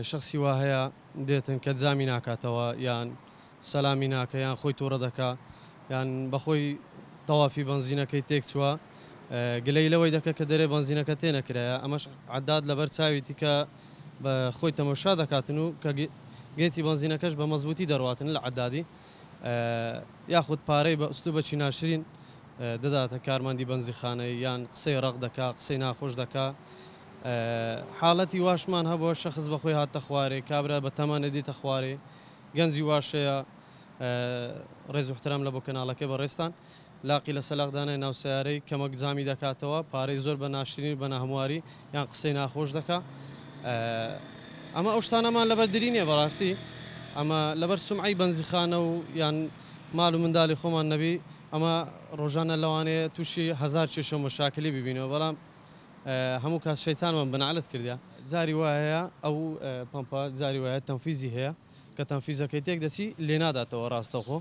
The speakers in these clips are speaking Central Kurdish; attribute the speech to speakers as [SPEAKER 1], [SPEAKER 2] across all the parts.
[SPEAKER 1] شەخسی وا هەیە دێتن کە جامی ناکاتەوە یان سەلامی ناکە یان خۆی توڕە دەکا یان بەخۆی تەوافی بەنزینەکەی تێک چووە گلەی لەوەی دەکە کە دەرێ بەنزینەکە تێ نەکرایە ئەمەش عداد لەبەر چاویتی کە بە خۆی تەمەشا دەکاتن و کە گێچی بەنزینەکەش بە مەزبوتی دەڕاتن لە عدادی یاخود پارەی بە ئوسلو بەچی ناشرین دەداتە کارمەندی بەنزیخانەی یان قسەی ڕق دەکا قسەی ناخۆش دەکا حاڵەتی واشمان هەبووە شەخس بە خۆی هاتتە خوارێ کابرا بە تەمەنە دیتە خوارێ گەنجی واشەیە ڕێز و احترام لە بۆ کەناڵەکە بە ڕێستان لاقی لە سەلاق دانای ناو سیارەی کەمەک زامی دەکاتەوە پارەی زۆر بە ناشرین بە ناهمواری یان قسەی ناخۆش دەکا ئەمە ئەو شتانەمان لەبەر دری نیە بەڕاستی ئەمە لەبەر سمعی بەنزیخانە و یان مال و منداڵی خۆمان نەبی ئەمە ڕۆژانە لەوانەیە تووشی هزار کێشە مەشاکلی ببینەوە بەڵام هەموو کات شەیتانمان بەنەعلەت کردە. جاری وایە ئەو پەمپە جاری وایە تەنفیزی هەیە کە تەنفیزەکەی تێک دەچی لێناداتەوە ڕاستەوخۆ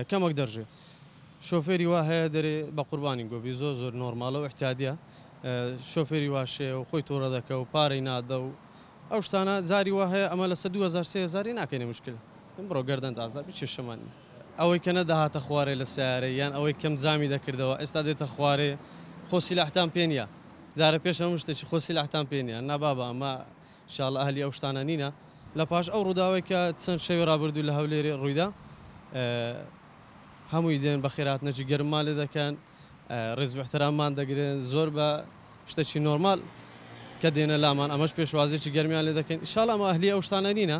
[SPEAKER 1] کەمەک دەڕژێ شۆفێری وا هەیە دەرێ بەقوربانی گۆبی زۆر زۆر نۆرمالە و ئیحتیادیە شۆفێری واش هەیە و خۆی توڕە دەکە و پارەی نادە و ئەو شتانە جاری وا هەیە ئەمە لەسە دوو هەزار سێ هەزاری ناکەینە مشکل بڕۆ گەردەنت ئازا بی کێشەمان نیە. ئەوەی کە نەدەهاتە خوارێ لە سەیارەی یان ئەوەی کەم جامی دەکردەوە ئێستا دێتە خوارێ خۆ سیلاحتان پێ نیە جارە پێش هەموو شتێکی خۆ سیلاحتان پێ نیە نا بابە ئەمە شاڵ ئەهلی ئەو شتانە نینە لە پاش ئەو ڕووداوی کە چەند شەوی ڕابردوو لە هەولێری ڕوویدا هەمووی دێن بەخێراتنەجی گەرممان لێ دەکەن. ڕێز وئیحتراممان دەگرن زۆر بە شتەکی نۆرمال کە دێنە لامان ئەمەش پێشوازێکی گەرمیان لێ دەکەین ئیشاڵا ئەمە ئەهلی ئەو شتانە نینە.